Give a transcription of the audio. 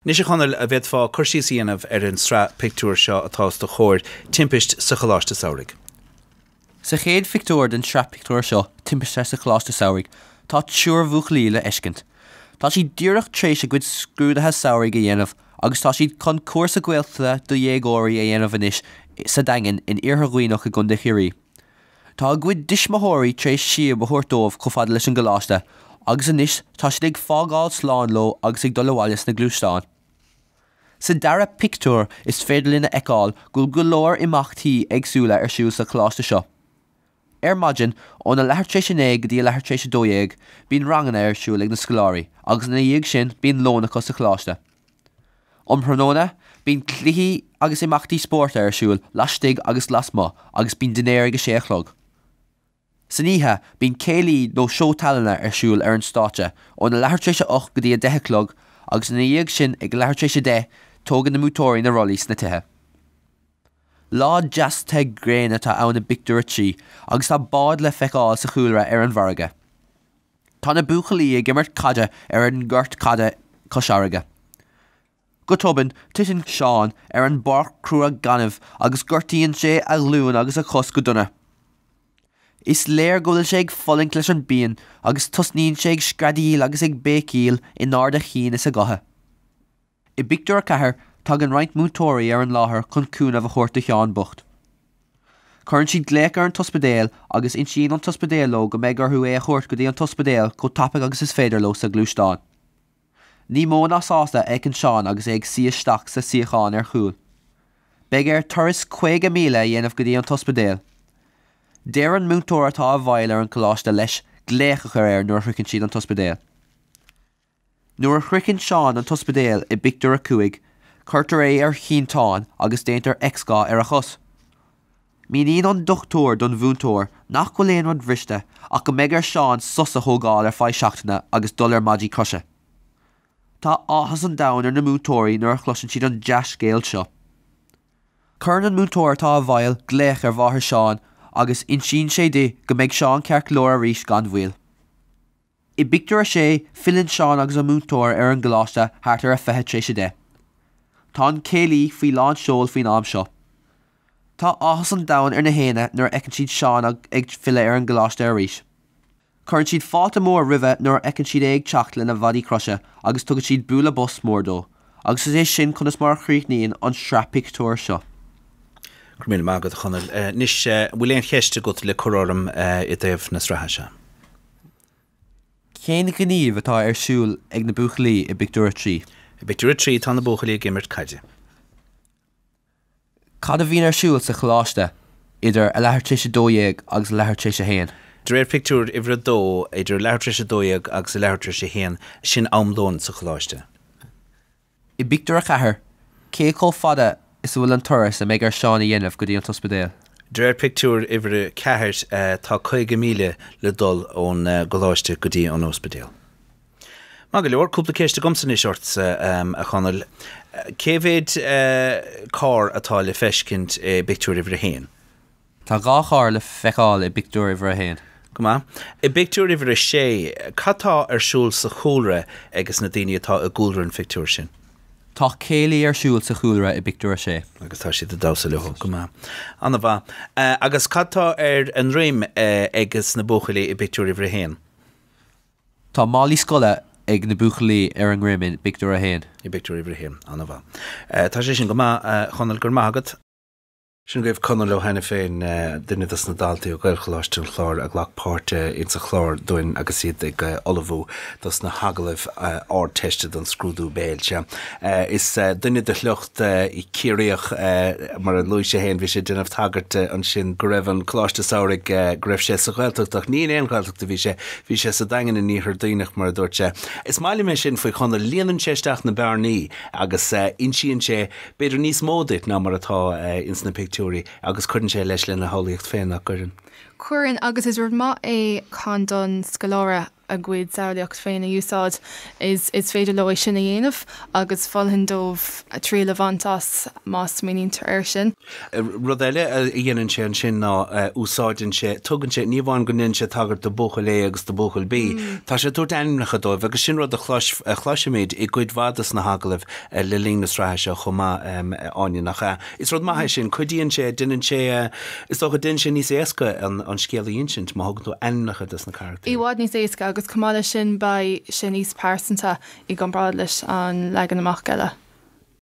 Anois a Chonaill, an bhféadfá cur síos a dhéanamh ar an sraith pictiúr seo atá os do chomhair, Timpist sa Choláiste Samhraidh. Sa chéad phictiúr den sraith pictiúr seo, Timpiste sa Choláiste Samhraidh, tá triúr buachaillí le feiscint. Tá siad díreach tréis a gcuid scrúdaithe samhraidh a dhéanamh agus tá siad chun cúrsa Gaeltachta do dhéagóirí a dhéanamh anois sa Daingean in Iarthar Duibhneach i gContae Chiarraí. Tá a gcuid dtuismitheoirí tar éis síob a thabhairt dóibh chomh fada leis an gcoláiste agus anois tá siad ag fágáil slán leo agus ag dul abhaile sna gluaisteáin. Sa dara pictiúr is féidir linn a fheiceáil go bhfuil go leor imeachtaí éagsúla ar siúl sa choláiste seo. Ar maidin, óna leathuair tar éis a naoi go dtí a leathuair tar éis a dó dhéag, bíonn ranganna ar siúl ag na scoláirí agus ina dhiaidh sin bíonn lón acu sa choláiste. Um thráthnóna, bíonn cluichí agus imeachtaí spóirt ar siúl laistigh agus lasmuigh agus bíonn dinnéar ag a sé a chlog. San oíche, bíonn céilí nó seó tallainne ar siúl ar an stáitse óna leathuair tar éis a ocht go dtí a deich a chlog agus ina dhiaidh sin ag a leathuair tar éis a deich, tógann na múinteoirí na rollaí sna tithe. Lá deas te gréine atá ann i bpictiúr a trí agus tá báid le feiceáil sa chúlra ar an bhfarraige. Tá na buachaillí ag imirt caide ar an gcúirt caide cois fharraige. Go tobann, titeann Seán ar an bpáirc crua gainimh agus gortaíonn sé a ghlúin agus a chos go dona. Is léir go bhfuil sé ag fulaingt leis an bpian agus tosnaíonn sé ag screadaíl agus ag béicíl in ard a chinn is a ghutha. I bpictiúr a ceathair tagann roinnt múinteoirí ar an láthair chun cúnamh a thabhairt do Sheán bocht. Cuireann siad glaoch ar an t-ospidéal agus insíonn an t-ospidéal leo go mbeidh orthu é a thabhairt go dtí an t-ospidéal chomh tapaidh agus is féidir leo sa ghluaisteán. Ní mó ná sásta a fhéachann Seán agus é ag suí isteach sa suíochán ar chúl. Beidh air turas 50 míle a dhéanamh go dtí an t-ospidéal. Deir an múinteoir atá i bhfeighil ar an gcoláiste leis glaoch a chur air nuair a shroicheann siad an t-ospidéal. Nuair a shroicheann Seán an t-ospidéal i bpictiúr a cúig, cuirtear é ar shínteán agus déantar x-gha ar a chos. Míníonn an dochtúir don mhúinteoir nach bhfuil aon rud bhriste ach go mbeidh ar Seán sos a thógáil ar feadh seachtaine agus dul ar maidí croise. Tá áthas an domhain ar na múinteoirí nuair a chloiseann siad an dea-scéal seo. Cuireann an múinteoir atá i bhfeighil glaoch ar mháthair Seán agus insíonn sé di go mbeidh Seán ceart go leor arís gan mhoill. I bpictiúr a sé, filleann Seán agus an múinteoir ar an gcoláiste thart ar a fiche tar éis a deich. Tá an céilí faoi lán seoil faoin am seo. Tá áthas an domhain ar na héinne nuair a fheiceann siad Seán ag ag filleadh ar an gcoláiste arís. Cuireann siad fáilte mór roimhe nuair a fheiceann siad é ag teacht lena mhaidí croise agus tugann siad bualadh bos mór dó agus is é sin conas mar a chríochnaíonn an sraith pictiúr seo. Go raibh míle maith agat, a Chonaill. Anois, an bhfuil aon cheist agat le cur orm i dtaobh na sraithe seo? Cén gníomh atá ar siúl ag na buachaillí i bpictiúr a trí? I bpictiúr a trí tá na buachaillí ag imirt caide. Cad a bhíonn ar siúl sa choláiste idir a leathuair tar éis a dó dhéag agus a leathuair tar éis a haon? De réir pictiúr uimhir a dó, idir a leathuair tar éis a dó dhéag agus a leathuair tar éis a haon, sin am lóin sa choláiste. I bpictiúr a ceathair, cé chomh fada is atá an turas a mbeidh ar Seán a dhéanamh go dtí an ospidéal? De réir pictiúr uimhir a ceathair, tá caoga míle le dul ón gcoláiste go dtí an ospidéal. Maith go leor, cúpla ceist agamsa anois ort, a Chonaill. Cé mhéid carr atá le feiscint i bpictiúr uimhir a haon? Tá dhá charr le feiceáil i bpictiúr uimhir a haon. Go maith. I bpictiúr uimhir a sé, cad tá ar siúl sa chúlra ages na daoine atá i gcúlra an phictiúir sin? Tá céilí ar siúl sa chúlra i bpictiúr a sé. Agus tá siad ag damhsa leo. Go maith. An-mhaith. Agus cad tá ar a ndroim ages na buachaillí i bpictiúr uimhir a haon? Tá málaí scoile ag na buachaillí ar a ndroim i bpictiúr a haon. I bpictiúr uimhir a haon. An-mhaith. Tá sé sin go maith, a Chonaill, go raibh maith agat. Sin agaibh Conall Ó hAiniféin, duine dos na daltaí ó Ghaelcholáiste an Chláir a ghlac páirt insa chlár dúinn agus iad ag ullmhú dos na hagallaimh Ardteiste don scrúdú béil. Sea, is duine de shliocht Ciarraíoch, mar a luaigh sé fhéin, bhí sé ag déanamh tagairt ansin go raibh an Coláiste Samhraidh, go raibh sé sa Ghaeltacht ach ní in aon Ghaeltacht a bhí sé, bhí sé sa Daingean in Iarthar Duibhneach mar a dúirt sé. Is maith liom é sin faoi Chonall, líonann sé isteach na bearnaí agus insíonn sé, b'fhéidir níos mó duit ná mar atá ins na pictiúirí agus cuireann sé leis lena shamhlaíocht féin nach gcuireann. Cuireann, agus is rud maith é sin don scoláire a gcuid samhlaíocht féin a úsáid, is is féidir leo é sin a dhéanamh agus mholfainn dóibh triail a bhaint as más smaoinítear air sin. Rud eile a dhéanann sé ansin ná úsáideann sé, tugann sé, ní amháin go ndéanann sé tagairt do Buachaill A agus do Buachaill B, tá sé ag tabhairt ainmneacha dóibh agus sin rud a chloisfimid i gcuid mhaith des na hagallaimh le linn na sraithe seo chomh maith, Áine, nach ea? Is rud maith é sin, cuidíonn sé, déanann sé, is dócha, déanann sé níos éasca an scéal a insint má thugann tú ainmneacha dos na carachtair. I bhfad níos éasca agus chomh maith leis sin beidh sé níos pearsanta i gcomparáid leis an leagan amach eile.